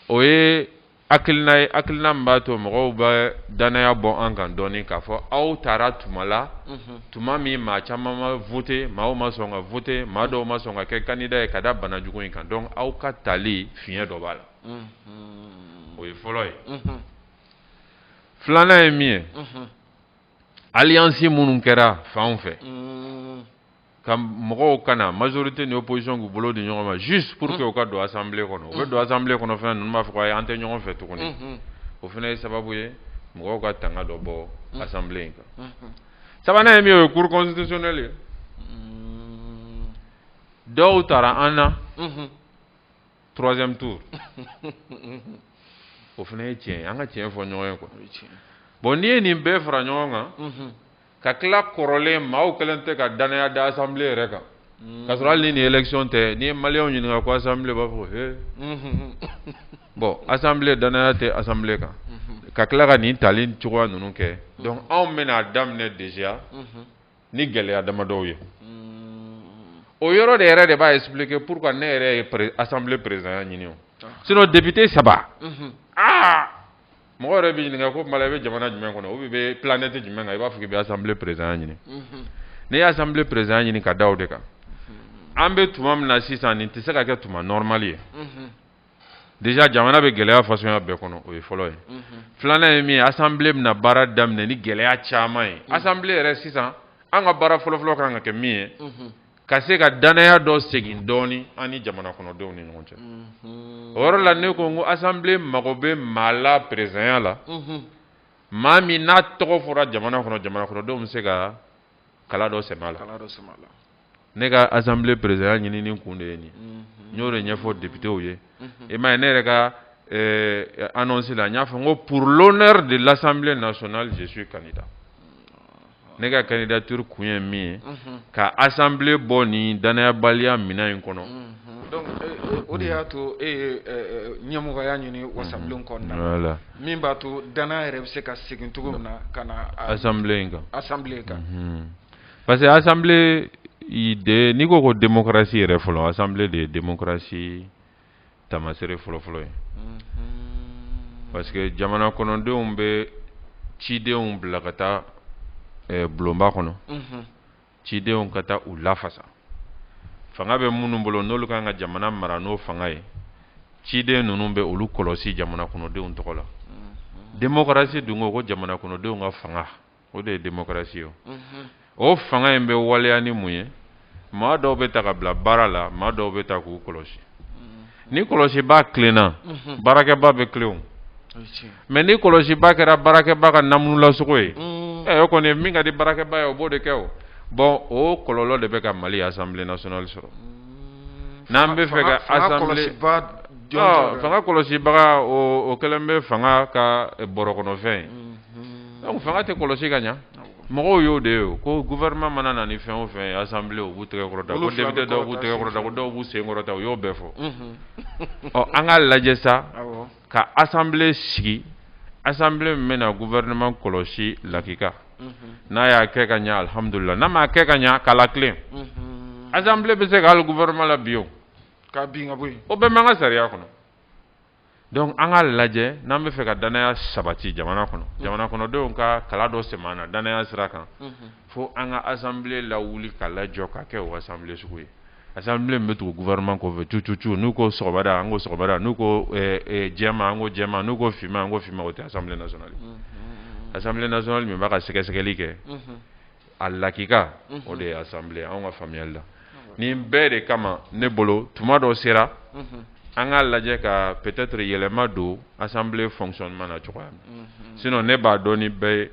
o ye hakilina ye hakilina min b'a to mɔgɔw bɛ dannaya bɔ an kan dɔɔnin k'a fɔ aw taara tuma la tuma min maa caman ma vote maaw ma sɔn ka vote maa dɔw ma sɔn ka kɛ candidat ye ka da bana jugu in kan donc aw ka taali fiɲɛ dɔ b'a la o ye fɔlɔ ye filanan ye min ye alliance minnu kɛra fanw fɛ mm. ka mɔgɔw ka na majorité ni opposition k'u bolo di ɲɔgɔn ma juste pour que u ka don assemblée kɔnɔ u bɛ mm. don assemblée kɔnɔ fana ninnu b'a fɔ ko ayi an tɛ ɲɔgɔn fɛ tuguni mm-hmm. o fana ye sababu ye mɔgɔw ka tanga dɔ bɔ mm. assemblée in kan mm-hmm. sabanan ye min o ye cour constitutionnelle ye dɔw taara an na mm-hmm. troisième tour o fana ye tiɲɛ ye an ka tiɲɛ fɔ ɲɔgɔn ye quoi bon n'i ye nin bɛɛ fara ɲɔgɔn kan mhm. ka tila kɔrɔlen maaw kɛlen tɛ ka danaya da assemblée yɛrɛ kan mhm. k'a sɔrɔ hali ni nin élection tɛ n'i ye maliyɛnw ɲininka ko assemblée b'a fɔ ko he mhm. bon assemblée danaya tɛ assemblée kan ka tila ka nin tali cogoya ninnu kɛ donc anw bɛna a daminɛ déjà ni gɛlɛya damadɔw ye o yɔrɔ de yɛrɛ de b'a expliquer pourquoi ne yɛrɛ ye pré assemblée président ya ɲini o ah. sinon député saba mhm. aa mɔgɔ yɛrɛ b'i ɲininka ko Mara i bɛ jamana jumɛn kɔnɔ ou bien i bɛ planète jumɛn kan i b'a fɔ k'i bɛ assemblée président ya ɲini mhm. ne ye assemblée président ya ɲini ka da o de kan mhm. an bɛ tuma min na sisan nin tɛ se ka kɛ tuma normal ye. déjà jamana bɛ gɛlɛya fasuguya bɛɛ kɔnɔ o ye fɔlɔ ye filanan ye min ye assemblée bɛna baara daminɛ ni gɛlɛya caman ye assemblée yɛrɛ sisan an ka baara fɔlɔfɔlɔ kan ka kɛ min ye ka se ka danaya dɔ segin dɔɔni an ni jamana kɔnɔdenw ni ɲɔgɔn cɛ o yɔrɔ la ne ko n ko assemblée mago bɛ maa la président ya la maa min n'a tɔgɔ fɔra jamana kɔnɔ jamana kɔnɔdenw bɛ se ka kala dɔ sɛ la ne ka azsanbilen perezya ɲinin kun de ye nin n y'o de ɲɛfɔ debitew ye i ma ye ne yɛrɛ ka ansi la n y'a fɔ n ko purl de lasanbilen na sɔn jesu ka da ne ka ka da tuuru kun ye min ye ka azsanbilen bɔ nin danyabaliya minɛn in kɔnɔ o de y'a to e ɲɛmɔgɔya ɲini wasabilen kɔnɔna la min b'a to danaya yɛrɛ bɛ se ka segin cogo min na ka na assemblée in kan assemblée in kan parce que assemblée in de n'i ko ko demokarasi yɛrɛ fɔlɔ assemblée de ye demokarasi tamasere fɔlɔfɔlɔ ye parce que jamana kɔnɔdenw bɛ cidenw bila ka taa bulonba kɔnɔ cidenw ka taa u lafasa fanga bɛ minnu bolo n'olu kan ka jamana mara n'o fanga ye ciden ninnu bɛ olu kɔlɔsi jamana kɔnɔdenw tɔgɔ la mm-hmm. demokarasi dun ko ko jamana kɔnɔdenw ka fanga o de ye demokarasi ye mm-hmm. o fanga in bɛ waleya ni mun ye maa dɔw bɛ ta ka bila baara la maa dɔw bɛ ta k'u kɔlɔsi ni kɔlɔsibaa tilenna baarakɛbaa bɛ tilen mais ni kɔlɔsibaa kɛra baarakɛbaa ka namulasoko o ye ɛ o kɔni min ka di baarakɛbaa ye o b'o de kɛ o bon o kɔlɔlɔ de bɛ ka Mali assemblée nationale sɔrɔ n'an b'a fɛ ka assemblée fanga kɔlɔsibaga o kɛlen bɛ fanga ka bɔrɔ kɔnɔfɛn ye donc fanga tɛ kɔlɔsi ka ɲɛ mɔgɔw y'o de ye ko gouvernement mana na ni fɛn o fɛn ye assemblée u b'u tɛgɛ kɔrɔta ko député dɔw b'u tɛgɛ kɔrɔta ko dɔw b'u sen kɔrɔta u y'o bɛɛ fɔ ɔ an k'a lajɛ sa ka assemblée sigi assemblée min bɛna gouvernement kɔlɔsi lakika n'a y'a kɛ ka ɲɛ alihamudulila n'a m'a kɛ ka ɲɛ k'a latilen assemblée bɛ se ka hali gouvernement labin o ka bin ka bɔ yen o bɛɛ b'an ka sariya kɔnɔ donc an k'a lajɛ n'an b'a fɛ ka dannaya sabati jamana kɔnɔ jamana kɔnɔdenw ka kala dɔ sɛmɛ an na dannaya sira kan fo an ka assemblée lawuli k'a lajɔ kana kɛ o assemblée sugu ye assemblée min bɛ tugu gouvernement kɔfɛ tu tu tu n'u ko sɔgɔmada an ko sɔgɔmada n'u ko jɛman an ko jɛman n'u ko finman an ko finman o tɛ assemblée nationale ye assemblée nationale min b'a ka sɛgɛsɛgɛli kɛ a lakika o de ye assemblée ye an ka faamuyali la nin bɛɛ de kama ne bolo tuma dɔ sera an k'a lajɛ ka peut-être yɛlɛma don assemblée fonctionnement na a cogoya sinon ne b'a dɔn ni bɛɛ ye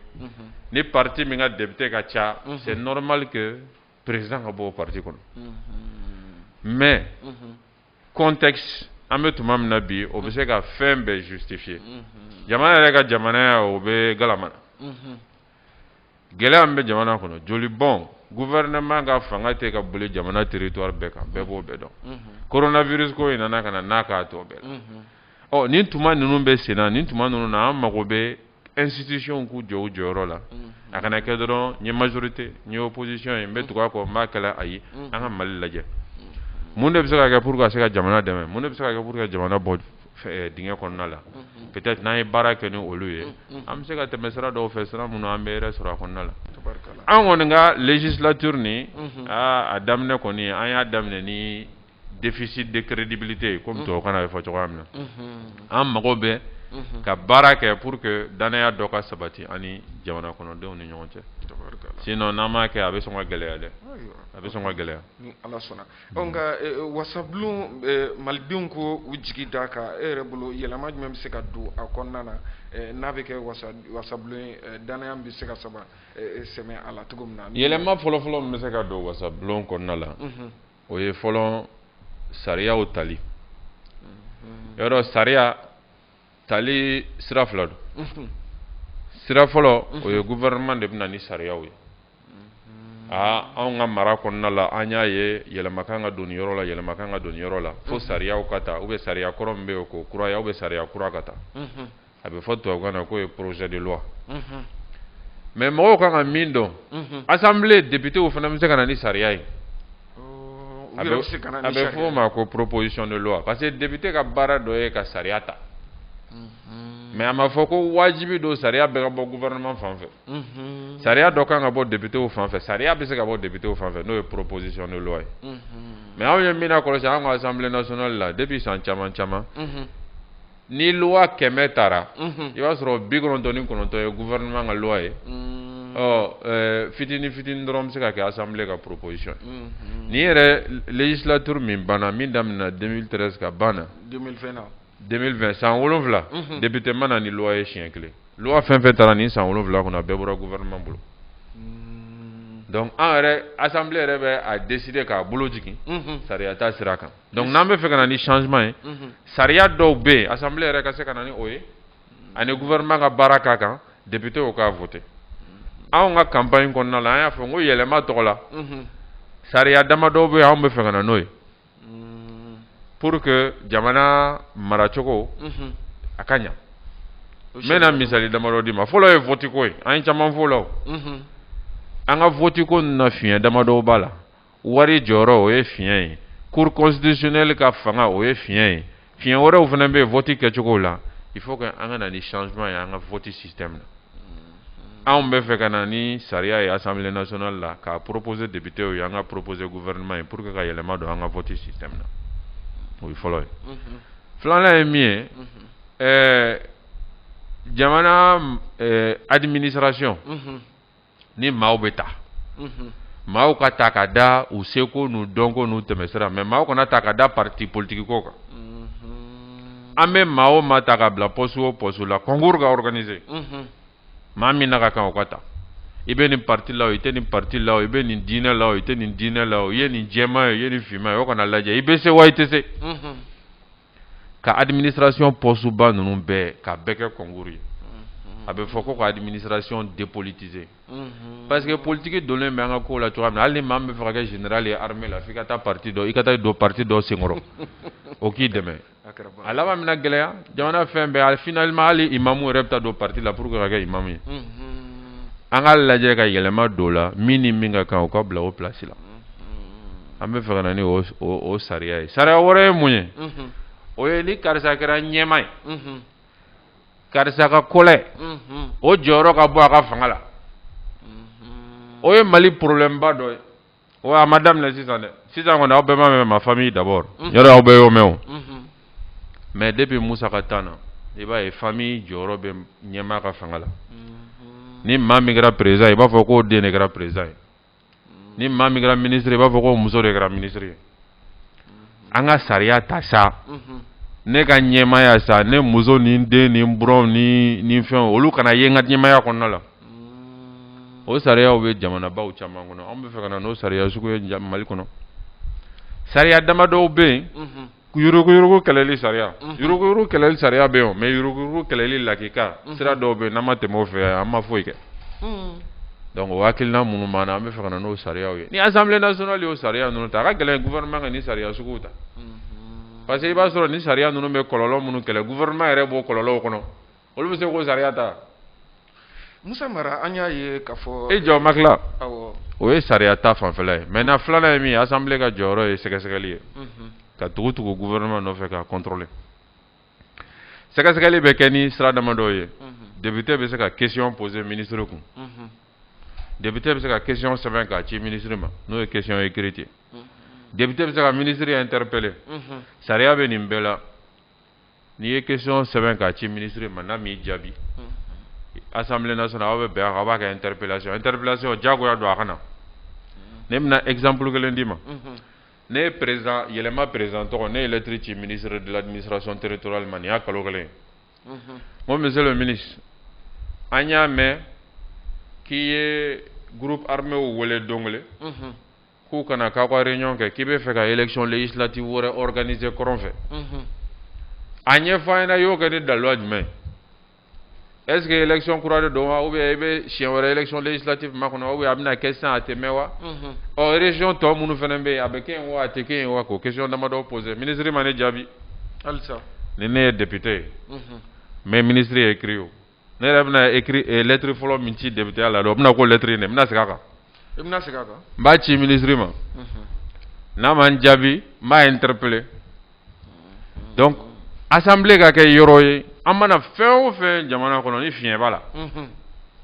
ni parti min ka député ka ca c'est normal que président ka bɔ o parti kɔnɔ mais contexte an bɛ tuma min na bi o bɛ se ka fɛn bɛɛ justifier jamana yɛrɛ ka jamanaya o bɛ gama gɛlɛya bɛ jamana kɔnɔ joli bɔn gouvernement ka fanga tɛ ka boli jamana territoire bɛɛ kan bɛɛ b'o bɛɛ dɔn mhm. coronavirus ko in nana ka na n'a k'a tɔ bɛɛ la mhm. ɔ nin tuma ninnu bɛ sen na nin tuma ninnu na an mago bɛ institution k'u jɔ u jɔyɔrɔ la mhm. a kana kɛ dɔrɔn n ye majorité n ye opposition ye n bɛ tugu a kɔ n b'a kɛlɛ ayi an ka Mali lajɛ mun de bɛ se ka kɛ pour ka se ka jamana dɛmɛ mun de bɛ se ka kɛ pour que jamana bɔ dingɛ kɔnɔna la peut-être n'an ye baara kɛ ni olu ye an bɛ se ka tɛmɛ sira dɔw fɛ sira minnu an bɛ hɛrɛ sɔrɔ a kɔnɔna la an kɔni ka législature nin aa a daminɛ kɔni an y'a daminɛ ni déficit de crédibilité ye comme tubabukan na a bɛ fɔ cogoya min na an mago bɛ ka baara kɛ pour que dannaya dɔ ka sabati an ni jamana kɔnɔdenw ni ɲɔgɔn cɛ sinon n'an m'a kɛ a bɛ sɔn ka gɛlɛya dɛ a bɛ sɔn ka gɛlɛya Ɔ nka wasabulon malidenw ko u jigi da a kan e yɛrɛ bolo yɛlɛma jumɛn bɛ se ka don a kɔnɔna na n'a bɛ kɛ wasabulon dannaya bɛ se ka saba sɛmɛ a la cogo min na yɛlɛma fɔlɔfɔlɔ bɛ se ka don wasabulon kɔnɔna la o ye fɔlɔ sariyaw tali yɔrɔ sariya tali sira fila don sira fɔlɔ o ye gouvernement de bɛ na ni sariyaw ye aa anw ka mara kɔnɔna la an y'a ye yɛlɛma kan ka don nin yɔrɔ la yɛlɛma kan ka don nin yɔrɔ la fo sariyaw ka ta ou bien sariya kɔrɔ min bɛ yen k'o kuraya ou bien sariya kura ka ta a bɛ fɔ tubabukan na k'o ye projet de loi mais mɔgɔw kan ka min dɔn assemblée députéw fana bɛ se ka na ni sariya ye. A bɛ fɔ o ma ko proposition de loi parce que député ka baara dɔ ye ka sariya ta mais a ma fɔ ko wajibi don sariya bɛɛ ka bɔ gouvernement fan fɛ sariya dɔ kan ka bɔ députéw fan fɛ sariya bɛ se ka bɔ députéw fan fɛ n'o ye proposition de loi ye mais anw ye min kɔlɔsi an ka assemblée nationale la depuis san caman caman ni loi 100 tara unhun i b'a sɔrɔ 99 ye gouvernement ka loi ye unnn ɔ ɛɛ fitini fitini dɔrɔn bɛ se ka kɛ assemblée ka proposition ye unhun nin yɛrɛ législature min banna min daminɛna 2013 ka ban na 2020 na 2020 san 7 unhun député ma na ni loi ye siɲɛ 1 loi fɛn fɛn tara nin san 7 kɔnɔ a bɛɛ bɔra gouvernement bolo unnn donc an yɛrɛ assemblée yɛrɛ bɛ a décider k'a bolo jigin unhun sariya ta sira kan donc n'an bɛ fɛ ka na ni changement ye sariya dɔw bɛ yen assemblée yɛrɛ ka se ka na ni o ye ani gouvernement ka baara k'a kan députéw k'a voter anw ka campagne kɔnɔna la an y'a fɔ n ko yɛlɛma tɔgɔ la sariya dama dɔw bɛ anw bɛ fɛ ka na n'o ye pour que jamana maracogo a ka ɲɛ n bɛna misali damadɔ d'i ma fɔlɔ ye voteko ye an ye caman fɔ la an ka voteko na fiɲɛ damadɔ b'a la wari jɔyɔrɔ o ye fiɲɛ ye cour constitutionnelle ka fanga o ye fiɲɛ ye fiɲɛ wɛrɛw fana bɛ yen vote kɛcogow la il faut que an ka na ni changement ye an ka vote système na mm-hmm. anw bɛ fɛ ka na ni sariya ye assemblée nationale la k'a proposer députéw ye an k'a proposer gouvernement ye pour que ka yɛlɛma don an ka vote système na o ye fɔlɔ ye mm-hmm. filanan ye min ye mm-hmm. ɛɛ eh, jamana ɛɛ eh, administration ni maaw bɛ ta maaw ka ta ka da u seko n'u dɔnko n'u tɛmɛsira mais maaw kana ta ka da parti politique ko kan an bɛ maa o maa ta ka bila poste o poste la concours ka organiser maa min n'a ka kan o ka ta i bɛ nin parti la o i tɛ nin parti la o i bɛ nin diinɛ la o i tɛ nin diinɛ la o i ye nin jɛman ye o i ye nin finman ye o o kana lajɛ i bɛ se wa i tɛ se ka administration poste ba ninnu bɛɛ k'a bɛɛ kɛ concours ye a bɛ fɔ ko ka administration dépolitiser parce que politique donnen bɛ an ka kow la cogoya min na hali ni maa min bɛ fɛ ka kɛ général ye armée la f'i ka taa parti dɔ i ka taa don parti dɔ senkɔrɔ o k'i dɛmɛ a laban bɛna gɛlɛya jamana fɛn bɛɛ finalement hali imamu yɛrɛ bɛ taa don parti la pour que ka kɛ imamu ye an ka lajɛ ka yɛlɛma don o la min ni min ka kan o ka bila o place la an bɛ fɛ ka na ni o sariya ye sariya wɛrɛ ye mun ye o ye ni karisa kɛra ɲɛmaa ye karisa ka kɔlɛ o jɔyɔrɔ ka bɔ a ka fanga la o ye mali problème ba dɔ ye o a ma daminɛ sisan dɛ sisan kɔni aw bɛ ma famille d'abord aw bɛ o mɛn mais depuis musa ka temps na i b'a ye famille jɔyɔrɔ bɛ ɲɛmaa ka fanga la ni maa min kɛra président i b'a fɔ k'o den de kɛra président ye ni maa min kɛra minisiri i b'a fɔ k'o muso de kɛra minisiri ye an ka sariya ta sa ne ka ɲɛmaaya sa ne muso ni n den ni n buranw ni nin fɛnw olu kana ye n ka ɲɛmaaya kɔnɔna la o sariyaw bɛ jamanabaw caman kɔnɔ an b'a fɛ ka na n'o sariya sugu ye mali kɔnɔ sariya damadɔw bɛ yen Yuruguyurugu kɛlɛli sariya, unhun, yuruguyurugu kɛlɛli sariya bɛ yen o mais yuruguyurugu kɛlɛli lakika sira dɔw bɛ yen n'an ma tɛmɛ o fɛ an ma foyi kɛ, unhun, donc o hakilina minnu b'an na an b'a fɛ ka na n'o sariyaw ye ni Assemblée nationale y'o sariya ninnu ta a ka gɛlɛn gouvernement ka nin sariya suguw ta, unhun, parce que i b'a sɔrɔ nin sariya ninnu bɛ kɔlɔlɔ minnu kɛlɛ gouvernement yɛrɛ b'o kɔlɔlɔw kɔnɔ olu bɛ se k'o sariya ta musa mara an y'a ye k'a fɔ e jɔ makila o ye sariya ta fanfɛla ye mɛntɛnan filanan ye min ye asanbile ka jɔyɔrɔ ye sɛgɛsɛgɛli ye mhm. ka tugu tugu guvɛrɛnɛman nɔfɛ k'a kɔntɔrɔle sɛgɛsɛgɛli bɛ kɛ ni sira damadɔw ye mhm. depite bɛ se ka kesiyɔn pose minisiri kun mhm. depite bɛ se ka kesiyɔn sɛbɛn k'a ci minisiri ma n'o ye kesiyɔn ekiriti depite bɛ se ka minisiri ɛntɛrepele sariya bɛ nin bɛɛ la n'i ye question sɛbɛn k'a ci ministre ma n'a m'i jaabi assemblée nationale aw bɛ bɛn a kan aw b'a kɛ interpellation interpellation diyagoya don a ka na ne bɛna exemple kelen d'i ma ne ye président yɛlɛma président tɔgɔ ne ye lettre ci ministre de l'administration territoriale ma nin y'a kalo kelen ye n ko monsieur le ministre an y'a mɛn k'i ye groupe arméw wele don kelen k'u ka na k'aw ka réunion kɛ k'i b'a fɛ ka élection législative wɛrɛ organiser kɔrɔn fɛ mhm. a ɲɛfɔ an ɲɛna i y'o kɛ ni daliluya jumɛn ye est ce que élection kura de don wa ou bien i bɛ siɲɛ wɛrɛ élection législative makɔnɔ wa ou bien a bɛna kɛ sisan a tɛ mɛɛn wa mhm. ɔ région tɔ minnu fana bɛ yen a bɛ kɛ yen wa a tɛ kɛ yen wa k'o question damadɔ poser ministre ma ne jaabi halisa ni ne ye député ye mhm. n bɛ ministre écrit o ne yɛrɛ bɛna écrit e lettre fɔlɔ min ci députéya la dɔrɔn o bɛna k'o lettre in de ye n bɛna segin a kan, n bɛna segin a kan, n b'a ci ministre ma, unhun, n'a ma n jaabi n b'a interpeller donc assemblée ka kɛ yɔrɔ ye an mana fɛn o fɛn jamana kɔnɔ ni fiɲɛ b'a la, unhun,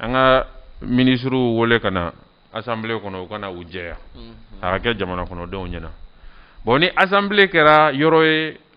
an ka ministres wele ka na assemblée kɔnɔ u ka na u jɛya, unhun, a ka kɛ jamana kɔnɔdenw ɲɛna bon ni assemblée kɛra yɔrɔ ye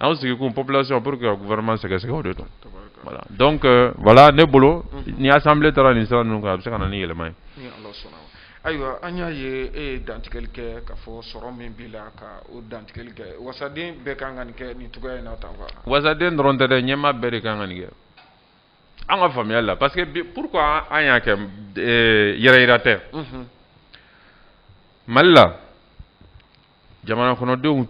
anw sigikun population pour que ka gouvernement sɛgɛsɛgɛ o de don voilà donc euh, voilà ne bolo mhm. ni assemblée taara nin sira ninnu kan a bɛ se ka na ni yɛlɛma ye ayiwa an y'a ye e ye dantigɛli kɛ k'a fɔ sɔrɔ min b'i la k'o dantigɛli kɛ wasaden bɛɛ kan ka nin kɛ nin cogoya in na tan quoi wasaden dɔrɔn tɛ dɛ ɲɛmaa bɛɛ de kan ka nin kɛ an ka faamuyali la parce que bi pourquoi an y'a kɛ euh, yɛrɛyira tɛ mhm. mali la jamana kɔnɔdenw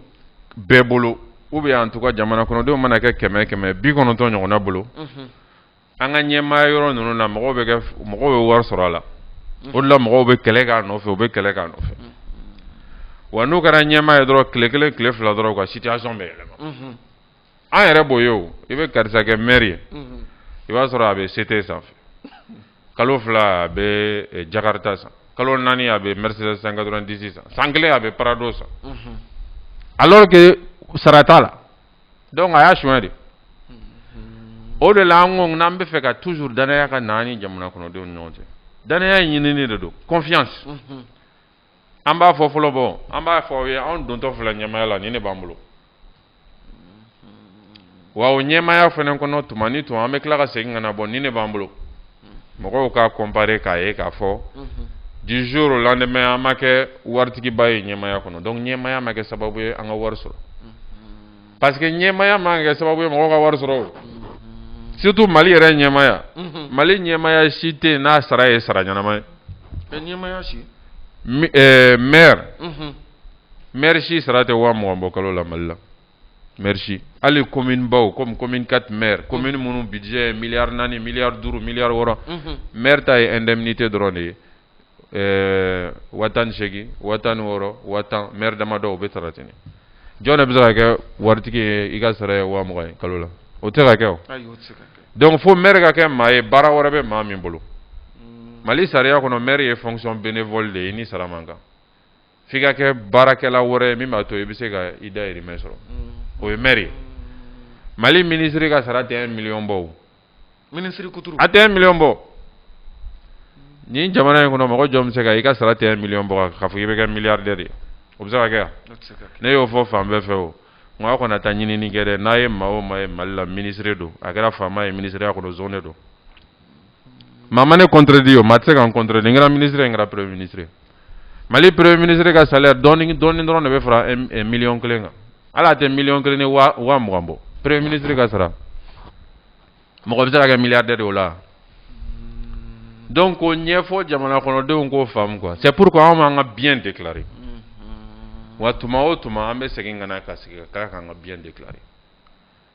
bɛɛ bolo u bɛ en tout cas jamana kɔnɔdenw mana kɛ kɛmɛ kɛmɛ bi kɔnɔntɔn ɲɔgɔnna bolo an ka ɲɛmaa yɔrɔ ninnu na mɔgɔw bɛ mɔgɔw bɛ wari sɔrɔ a la o la mɔgɔw bɛ kɛlɛ k'a nɔfɛ u bɛ kɛlɛ k'a nɔfɛ wa n'u kɛra ɲɛmaa ye dɔrɔn tile kelen tile fila dɔrɔn ka situation bɛ yɛlɛma an yɛrɛ b'o ye i bɛ karisa kɛ maire ye i b'a sɔrɔ a bɛ sete sanfɛ kalo fila a bɛ jakarita san kalo naani a bɛ mercedes cent quatre-vingt-dix san san kelen a bɛ prado san alors que sara t'a la donc a y'a sonya de o de la an ko n'an b'a fɛ ka toujours danaya ka na an ni jamana kɔnɔdenw ɲɔgɔn cɛ danaya ɲinini de don confiance an b'a fɔ fɔlɔ bɔ an b'a fɔ aw ye anw dontɔ filɛ ɲɛmaya la nin de b'an bolo wa o ɲɛmaya fana kɔnɔ tuma ni tuma an bɛ tila ka segin ka na bɔ nin de b'an bolo mɔgɔw k'a comparer k'a ye k'a fɔ du jour au lendemain an ma kɛ waritigiba ye ɲɛmaya kɔnɔ donc ɲɛmaya ma kɛ sababu ye an ka wari sɔrɔ parce que ɲɛmaya ma kɛ sababu ye mɔgɔw ka wari sɔrɔ o surtout Mali yɛrɛ ɲɛmaya Mali ɲɛmaya si tɛ yen n'a sara ye sara ɲɛnama ye ɲɛmaya si eh, maire maire si sara tɛ waa mugan bɔ kalo la Mali la maire si hali commune baw comme commune 4 maire commune minnu budget ye miliyari naani miliyari duuru miliyari wɔɔrɔ maire ta ye indemnité dɔrɔn de ye ɛɛ waa tan ni seegin waa tan ni wɔɔrɔ waa tan mɛri damadɔw o bɛ sara ten jɔn de bɛ se ka kɛ waritigi ye i ka sara ye waa mugan ye kalo la o tɛ se ka kɛ o donc fo mɛri ka kɛ maa ye baara wɛrɛ bɛ maa min bolo hmm. mali sariya kɔnɔ mɛri ye fonction bénévole de ye ni sara man kan f'i ka kɛ baarakɛla wɛrɛ ye min b'a to i bɛ se ka i dayirimɛ sɔrɔ hmm. o ye mɛri ye mali minisiri ka sara tɛ miliyɔn bɔ o minisiri kuturu a tɛ miliyɔn bɔ nin jamana in kɔnɔ mɔgɔ jɔn bɛ se ka i ka sara tɛ miliyɔn bɔ k'a fɔ i bɛ kɛ milliardaire ye o bɛ se ka kɛ ne y'o fɔ fan bɛɛ fɛ o nka aw kana taa ɲinini kɛ dɛ n'a ye maa o maa ye mali la minisiri don a kɛra faama ye minisiriya kɔnɔ zon de don maa ma ne contredit o maa tɛ se ka n contredit n kɛra minisiri n kɛra premier minisiri mali premier minisiri ka salaire dɔɔni dɔɔni dɔrɔn de bɛ fara miliyɔn kelen kan hali a tɛ miliyɔn kelen ni waa mugan bɔ premier minisiri ka sara mɔgɔ bɛ se ka kɛ milliardaire de o la donc k'o ɲɛfɔ jamana kɔnɔdenw k'o faamu quoi c'est pourquoi anw b'an ka bien déclarer wa tuma o tuma an bɛ segin ka na ka sigi ka tila k'an ka bien déclarer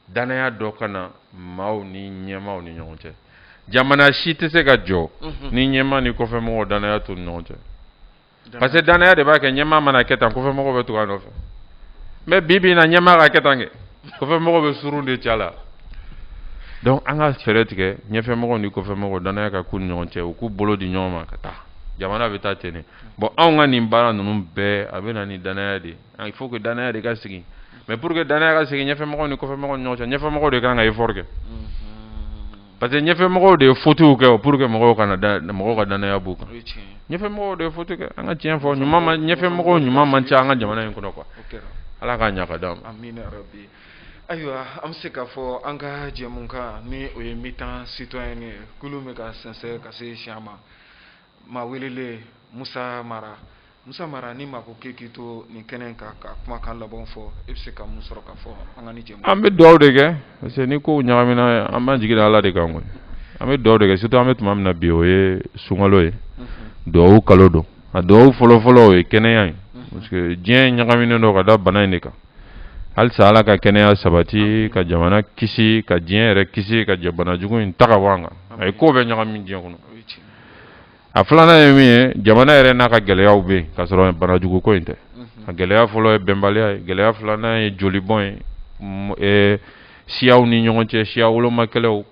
danaya dɔ ka na maaw ni ɲɛmaaw ni ɲɔgɔn cɛ jamana si tɛ se ka jɔ ni ɲɛmaa ni kɔfɛmɔgɔw danaya t'u ni ɲɔgɔn cɛ parce que danaya de b'a kɛ ɲɛmaa mana kɛ tan kɔfɛmɔgɔ bɛ tugu a nɔfɛ mais bi bi in na ɲɛmaa ka kɛ tan kɔfɛmɔgɔ bɛ suruntu ci a la donc an ka fɛɛrɛ tigɛ ɲɛfɛmɔgɔ ni kɔfɛmɔgɔ danaya ka k'u ni ɲɔgɔn cɛ u k'u bolo di ɲɔgɔn ma ka taa jamana bɛ taa ten bon anw ka nin baara ninnu bɛɛ a bɛ na ni danaya de ye il faut que danaya de ka sigi mais pour que danaya ka sigi ɲɛfɛmɔgɔw ni kɔfɛmɔgɔw ni ɲɔgɔn cɛ ɲɛfɛmɔgɔw de kan ka effort kɛ parce que ɲɛfɛmɔgɔw de ye fautew kɛ pour que mɔgɔw kana da mɔgɔw ka danaya b'u kan ɲɛfɛmɔgɔw de ye faute kɛ an ka tiɲɛ fɔ ɲuman ma ɲɛfɛmɔgɔw ɲuman man ca an ka jamana in kɔnɔ quoi ala k'a ɲa ka d'an ma ayiwa an bɛ se k'a fɔ an ka jɛmukan ni o ye mi-temps citoyen ye kulun bɛ ka sɛnsɛn ka se cɛncɛn ma maa welelen musa mara musa mara ni maa ko k'e k'i to nin kɛnɛ kan ka kumakan laban fɔ e bɛ se ka mun sɔrɔ ka fɔ an ka nin jɛmu an bɛ dugawu de kɛ parce que ni kow ɲagamina an b'an jigi da ala de kan koyi an bɛ dugawu de kɛ surtout an bɛ tuma min na bi o ye sunkalo ye mhm. dugawu kalo don a dugawu fɔlɔfɔlɔ o ye kɛnɛya ye mhm. parce que diɲɛ ɲagaminen don ka da bana in de kan halisa ala ka kɛnɛya sabati ka jamana kisi ka diɲɛ yɛrɛ kisi ka banajugu in ta ka bɔ an kan a ye ko bɛɛ ɲagami diɲɛ kɔnɔ a filanan ye min ye jamana yɛrɛ n'a ka gɛlɛyaw bɛ yen ka sɔrɔ banajugu ko in tɛ a gɛlɛya fɔlɔ ye bɛnbaliya ye gɛlɛya filanan ye jolibɔn ye siyaw ni ɲɔgɔn cɛ siya woloma kɛlɛw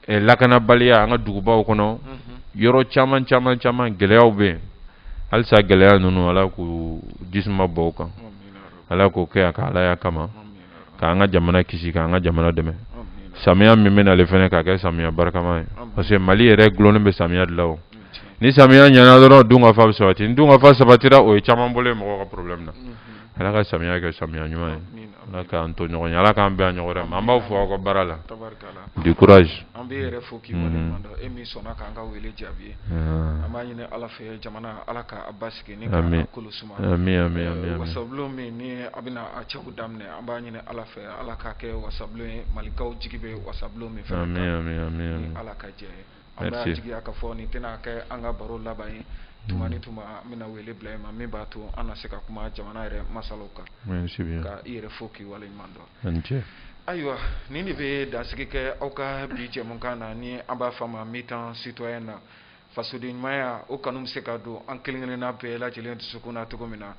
lakanabaliya an ka dugubaw kɔnɔ yɔrɔ caman caman caman gɛlɛyaw bɛ yen halisa gɛlɛya ninnu ala k'u jisuma bɔn u kan ala k'o kɛ a ka alaya kama k'an ka jamana kisi k'an ka jamana dɛmɛ samiya min bɛ na ale fana k'a kɛ samiya barikama ye parce que mali yɛrɛ dulonnen bɛ samiya de la o ni samiya ɲana dɔrɔn dunkafa bɛ sabati ni dunkafa sabatira o ye caman bɔlen ye mɔgɔw ka problème na ala ka samiya kɛ samiya ɲuman ye ala k'an to ɲɔgɔn ye ala k'an bɛn a ɲɔgɔn wɛrɛ ma an b'aw fo aw ka baara la du courage an b'i yɛrɛ fo k'i waleɲuman dɔn e min sɔnna k'an ka wele jaabi an b'a ɲini ala fɛ jamana ala k'a basi Amin. kolo suma Amin, amin, amin, amin. wasabulon min ni a bɛna a cɛko daminɛ an b'a ɲini ala fɛ ala k'a kɛ wasabulon ye malikaw jigi bɛ wasabulon min fɛ Amin, amin, amin, amin. ala ka jɛ ye an b'a Merci. jigiya k'a fɔ nin tɛna kɛ an ka baro laban ye tuma ni tuma an bɛna wele bila i ma min b'a to an na se ka kuma jamana yɛrɛ masalaw kan Merci bien. ka i yɛrɛ fo k'i waleɲuman dɔn A ni ce. ayiwa nin de bɛ dansigi kɛ aw ka bi jɛmukan na ni an b'a fɔ a ma mi-temps citoyen na fasodenɲumanya o kanu bɛ se ka don an kelen-kelenna bɛɛ lajɛlen dusukun na cogo min na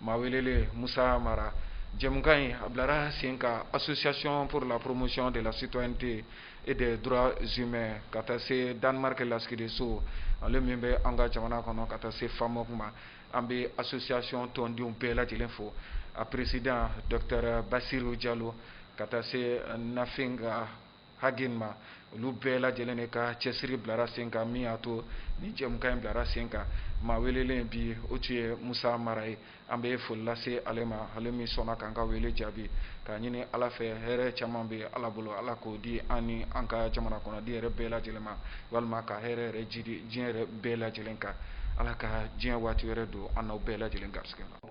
maa welelen Musa Mara jɛmukan in a bilara sen kan association pour la promotion de la citoyenneté et des droits humains ka taa se Danemark lasigidenso ale min bɛ an ka jamana kɔnɔ ka taa se FAMOC ma an bɛ association tɔndenw bɛɛ lajɛlen fo a président docteur Basiru Jalo ka taa se Nafinga haki ma olu bɛɛ lajɛ lajɛlen de ka cɛsiri bilara sen kan min y'a to nin jɛmukan in bilara sen kan maa welelen bi o tun ye musa mara ye an bɛ foli lase ale ma ale min sɔnna k'an ka wele jaabi k'a ɲini ala fɛ hɛrɛ caman bɛ ala bolo ala k'o di an ni an ka jamana kɔnɔ den yɛrɛ bɛɛ lajɛlen ma walima ka hɛrɛ yɛrɛ jiidi diɲɛ yɛrɛ bɛɛ lajɛlen kan ala ka diɲɛ waati wɛrɛ don an n'aw bɛɛ lajɛlen garisɛgɛ la